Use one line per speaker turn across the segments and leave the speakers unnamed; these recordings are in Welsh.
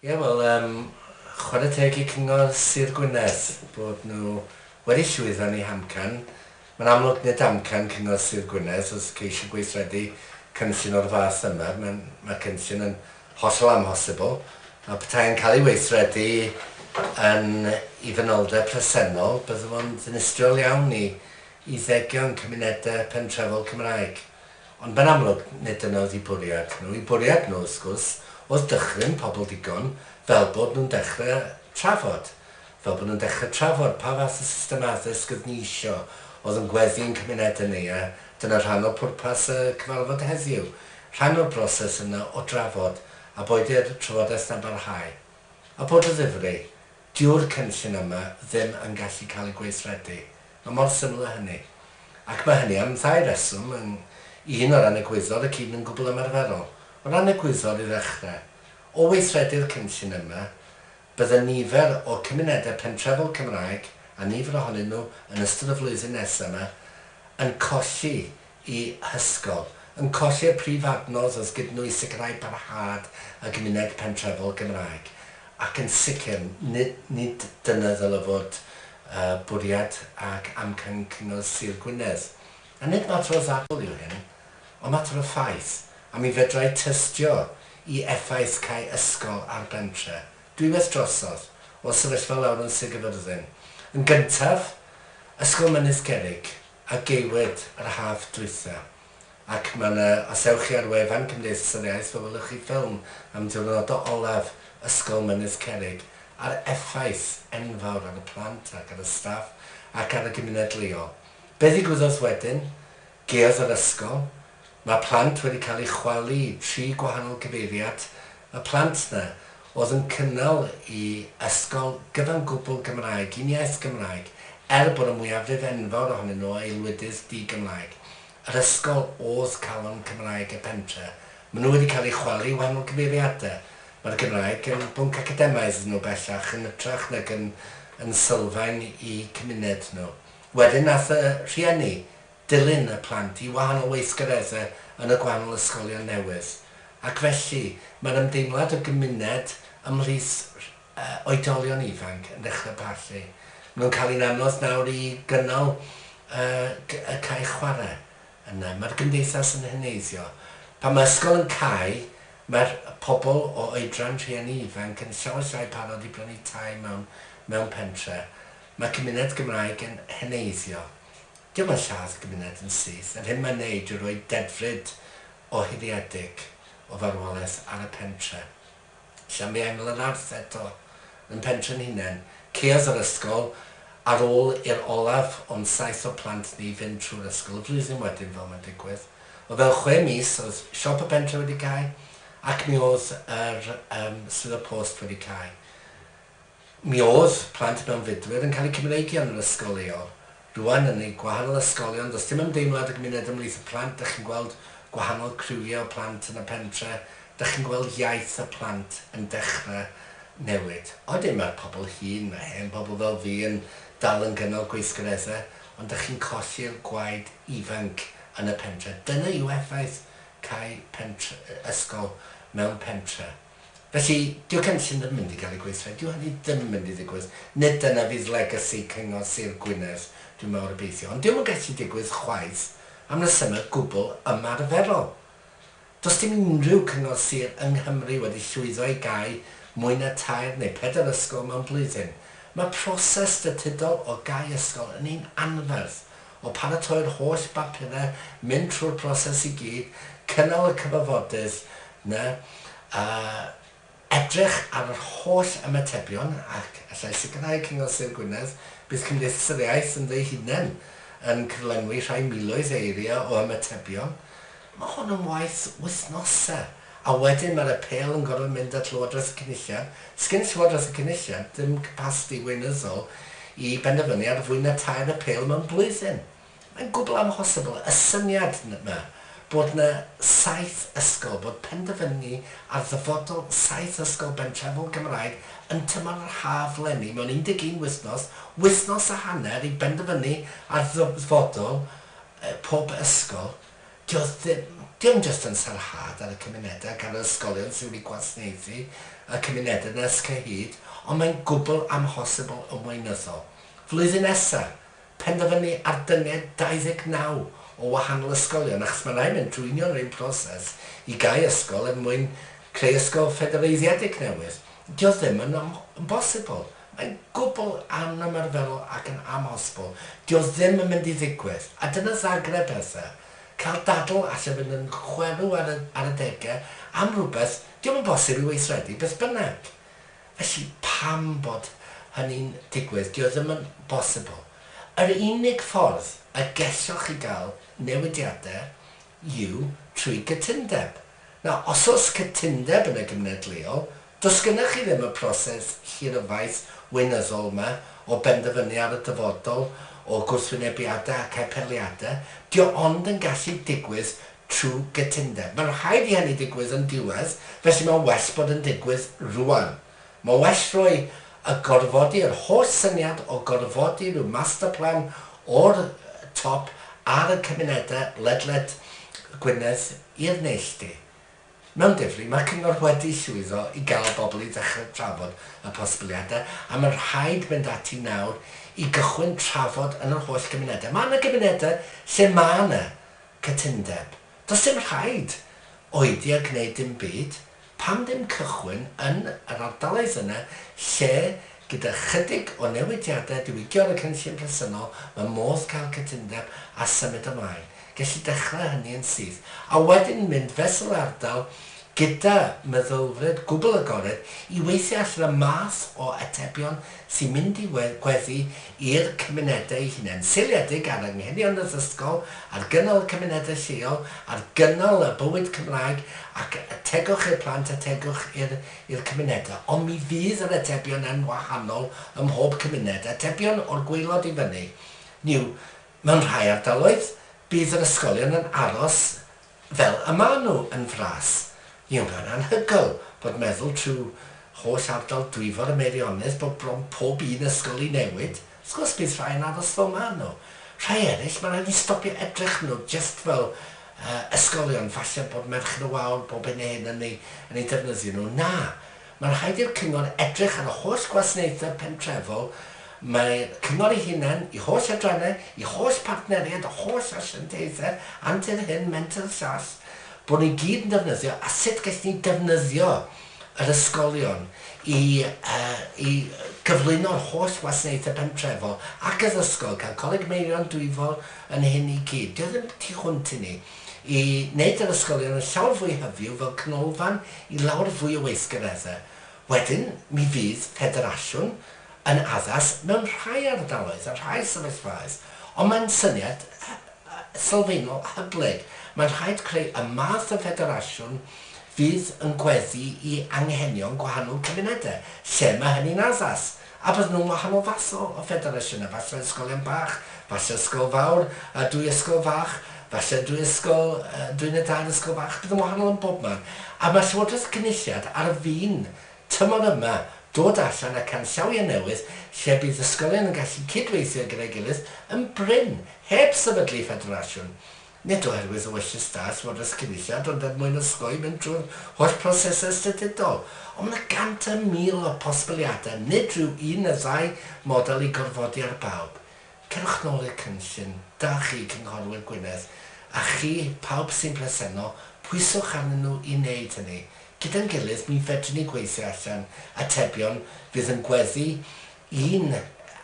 Ie, wel, yym, chwarae teg i Cyngor Sir Gwynedd bod nhw wedi llwyddo yn eu hamcan. Mae'n amlwg, nid amcan Cyngor Sir Gwynedd oedd ceisio gweithredu cynllun o'r fath yma. Mae'n... mae'r cynllun yn hollol amhosibl, a petai yn cael ei weithredu yn ei fanylder presennol, bydde fo'n ddinistriol iawn i i ddegion cymunedau pentrefol Cymraeg. Ond mae'n amlwg, nid dyna oedd eu bwriad nhw. Eu bwriad nhw, wrth gwrs, oedd dychryn pobl ddigon fel bod nhw'n dechrau trafod. Fel bod nhw'n dechrau trafod pa fath o system addysg oedd ni isio, oedd yn gweddu i'n cymunedau ni, a dyna rhan o pwrpas y cyfarfod heddiw, rhan o'r broses yna o drafod, a boed i'r trafodaeth 'na'n barhau. A bod o ddifri, Dyw'r cynllun yma ddim yn gallu cael ei gweithredu. Mae mor syml â hynny. Ac mae hynny am ddau reswm, yn, un, o ran egwyddor ac un yn gwbl ymarferol. O ran egwyddor i ddechrau. O weithredu'r cynllun yma, bydde nifer o cymunedau pentrefol Cymraeg, a nifer ohonyn nhw yn ystod y flwyddyn nesaf yma, yn colli y hysgol, yn colli'r prif adnodd wrth gydnwys sicrhau parhad y gymuned pentrefol Gymraeg, ac yn sicr, nid dyna ddylai fod y bwriad ac amcan Cyngor Sir Gwynedd. A nid mater o ddadl yw hyn, ond mater o ffaith, a mi fedrai tystio i effaith cau ysgol ar bentre, dwywaith drosodd, o'r sefyllfa lawr yn Sir Gaerfyrddin. Yn gyntaf, ysgol Mynydd Cerrig. a geiriwyd yr haf dwytha, ac mae yna, os ewch chi ar wefan Cymdeithas yr Iaith fe welwch chi ffilm am diwrnodau olaf Ysgol Mynydd Cerrig a'r effaith enfawr ar y plant ac ar y staff ac ar y gymuned leol. Be ddigwyddodd wedyn? Gaeodd yr ysgol, Mae plant wedi cael eu chwalu i tri gwahanol gyfeiriad, y plant 'na oedd yn cynnal i ysgol gyfan gwbl Gymraeg, un iaith Gymraeg, er bod y mwyafrif enfawr ohonyn nhw o aelwydydd di-Gymraeg. Yr ysgol oedd calon Cymraeg y pentre. Maen nhw wedi cael eu chwalu i wahanol gyfeiriadau. Mae'r Gymraeg yn bwnc academaidd iddyn nhw bellach yn hytrach nag yn yn sylfaen i cymuned nhw. Wedyn aeth y rhieni dilyn y plant i wahanol weithgareddau yn y gwahanol ysgolion newydd, ac felly mae'r ymdeimlad o gymuned ymhlith oedolion ifanc yn dechrau parchu. Maen nhw'n cael hi'n anodd nawr i gynnal y cae chwarae yna. Mae'r gymdeithas yn heneiddio. Pan mae ysgol yn cau, mae'r pobl o oedran rhieni ifanc yn llawer llai parod i brynu tai mewn pentre. Mae cymuned Gymraeg yn heneiddio. Dyma lladd gymuned yn syth, yr hyn mae'n wneud yw rhoi dedfryd ohidiedig o farwolaeth ar y pentre. Llamia yng Nglanarth eto, yn pentre'n hunain, caeodd yr ysgol ar ôl i'r olaf o'n saith o plant ni fynd trwy'r ysgol y flwyddyn wedyn fel mae'n digwydd. O fewn chwe mis oedd siop y pentre wedi cau ac mi oedd yr yym swyddog post wedi cau. Mi oedd plant mewnfudwyr yn cael eu Cymreigio yn yr ysgol leol. Rŵan, yn eu gwahanol ysgolion, does dim ymdeimlad y gymuned ymhlith y plant, dych chi'n gweld gwahanol criwiau o blant yn y pentre, dych chi'n gweld iaith y plant yn dechrau newid. Odyn, mae'r pobl hŷn, mae hen bobl fel fi yn dal yn gynnal gweithgareddau, ond dych chi'n colli'r gwaed ifanc yn y pentre. Dyna yw effaith cau pentre, ysgol mewn pentre. Felly, dyw cynllun ddim yn mynd i gael ei gweithredu, dyw hynny ddim yn mynd i ddigwydd. Nid dyna fydd legacy Cyngor Sir Gwynedd, dwi'n mawr obeithio. Ond dyw e'm yn gallu digwydd chwaith am resymau gwbl ymarferol. Does dim unrhyw cyngor sir yng Nghymru wedi llwyddo i gau mwy na tair neu pedair ysgol mewn blwyddyn. Mae proses statudol o gau ysgol yn un anferth, O paratoi'r holl bapurau, mynd trwy'r proses i gyd, cynnal y cyfarfodydd 'na, a edrych ar yr holl ymatebion, ac allai sicrhau Cyngor Sir Gwynedd, bydd Cymdeithas yr Iaith ynddo'i hunain yn cyflenwi rhai miloedd o eiriau o ymatebion, Mae hwn am waith wythnosau, a wedyn mae'r apêl yn gorfod mynd at Lywodraeth y Cynulliad. Sgen Llywodraeth y Cynulliad ddim capasiti weinyddol i benderfynu ar fwy na tair apêl mewn blwyddyn. Mae'n gwbl amhosibl. Y syniad 'ma bod 'na saith ysgol, bod penderfynu ar ddyfodol saith ysgol bentrefol Gymraeg yn tymor yr haf 'leni mewn 11 wythnos, wythnos a hanner i benderfynu ar ddyfodol pob ysgol, Does dim, dim jyst yn sarhad ar y cymunedau ac ar yr ysgolion sydd wedi gwasnaethu y cymunedau yna ers cyhyd, ond mae'n gwbl amhosibl yn weinyddol. Flwyddyn nesaf, penderfynu ar dynged 29 o wahanol ysgolion, achos mae'n rhaid mynd trwy union yr un proses i gau ysgol er mwyn creu ysgol ffedereiddiedig newydd, 'di o ddim yn, yn bosibl. Mae'n gwbl anymarferol ac yn amhosibl. Dio ddim yn mynd i ddigwydd. A dyna Zagreb Bertha. Cael dadl alle fynd yn chwerw ar y ar y dege am rhywbeth diom yn bosib i weithredu beth bynnag. Felly pam bod hynny'n digwydd? Dio ddim yn bosibl. Yr unig ffordd y gelloch chi gael newidiadau yw trwy gytundeb. Na, os oes cytundeb yn y gymuned leol, does gennych chi ddim y proses hiryfaith weinyddol yma o benderfynu ar y dyfodol, o gwrthwynebiadau ac apeliadau. Dio ond yn gallu digwydd trwy gytundeb. Mae'n rhaid i hynny ddigwydd yn diwedd, felly mae'n well bod yn digwydd rŵan. Mae well rhoi a gorfodi yr holl syniad o gorfodi rhyw master plan o'r top ar y cymunedau ledled Gwynedd i'r neilltu. Mewn difri, mae'r cyngor wedi llwyddo i gael bobl i ddechrau trafod y posibiliadau a mae'n rhaid mynd ati nawr i gychwyn trafod yn yr holl gymunedau. Mae yna gymunedau lle mae yna cytundeb. Does dim rhaid oedi a gwneud dim byd. Pam ddim cychwyn yn yr ardaloedd yna lle gyda chydig o newidiadau diwygio ar y cynllun presennol mae modd cael cytundeb a symud ymlaen, gelli dechrau hynny yn syth, a wedyn mynd fesul ardal gyda meddylfryd gwbl agored i weithio allan y math o atebion sy'n mynd i gweddu i'r cymunedau eu hunain, seiliedig ar anghenion yr ysgol, ar gynnal y cymunedau lleol, ar gynnal y bywyd Cymraeg ac y tegwch i'r plant a tegwch i'r cymunedau. Ond mi fydd yr atebion yn wahanol ym mhob cymuned. Atebion o'r gwaelod i fyny. Hynny yw, mewn rhai ardaloedd, bydd yr ysgolion yn aros Fel y maen nhw yn fras, mi oedd o'n anhygoel bod meddwl trwy holl ardal Dwyfor y Meirionnydd bod bron pob un ysgol i newid. Wrth gwrs bydd rhai yn aros fel maen nhw. Rhai eraill, mae rhaid ni stopio edrych nhw jyst fel ysgolion falle bod Merched y Wawr bob hyn a hyn yn eu defnyddio nhw. Na! Mae'n rhaid i'r cyngor edrych ar y holl gwasnaethau pentrefol, mae'r cyngor ei hunain, ei holl adrannau, ei holl partneriaid a holl asiantaethau antur hŷn menter llall, bod nhw i gyd yn defnyddio a sut gellid ni defnyddio yr ysgolion i i gyflwyno'r holl wasnaethau pentrefol ac addysgol, cael Coleg Meirion Dwyfor yn hyn i gyd. Dio ddim tu hwnt i ni. i wneud yr ysgolion yn llawer fwy hyfyw fel canolfan i lawer fwy o weithgareddau. Wedyn, mi fydd ffederasiwn yn addas mewn rhai ardaloedd a rhai sefyllfaoedd, ond mae'n syniad sylfaenol hyblyg. Mae'n rhaid creu y math o ffederasiwn fydd yn gweddu i anghenion gwahanol cymunedau, lle mae hynny'n addas. A bydden nhw'n wahanol fath o o ffederasiynau, falle ysgolion bach, falle ysgol fawr, a dwy ysgol fach, falle dwy ysgol, dwy neu dair ysgol fach, bydd yn wahanol yn bob man. A mae Llywodraeth y Cynulliad ar fin, tymor yma, dod allan â canllawiau newydd lle bydd ysgolion yn gallu cyd-weithio gyda'i gilydd yn brin, heb sefydlu ffederasiwn. nid oherwydd y welliant da sydd fod ers Cynulliad ond er mwyn osgoi mynd drwy'r holl brosesau ystadudol. Ond mae 100 a 1000 o bosbiliadau, nid rhyw un neu ddau model i gorfodi ar bawb. Cerwch nôl i'r cynllun da chi, Cynghorwyr Gwynedd, a chi, pawb sy'n presennol, pwyswch arnyn nhw i wneud hynny. Gyda'n gilydd, mi fedryn ni gweithio allan atebion fydd yn gweddu Ein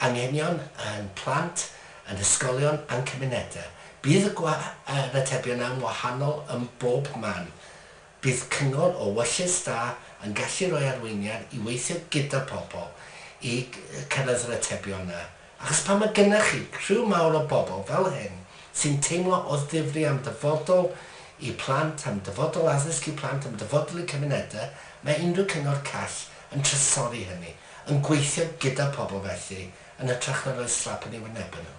anghenion a'n plant, a'n hysgolion a'n cymunedau. Bydd y gwahanebion yn wahanol ym mhob man. Bydd cyngor o wyllys da yn gallu rhoi arweiniad i weithio gyda pobl i cyrraedd yr atebion yna. Achos pan mae gyda chi criw mawr o bobl fel hyn sy'n teimlo o ddifri am ddyfodol eu plant, am ddyfodol addysg eu plant, am ddyfodol eu cymunedau, mae unrhyw cyngor call yn trysori hynny. Yn gweithio gyda pobl felly, yn hytrach na rhoi slap yn eu wynebau nhw.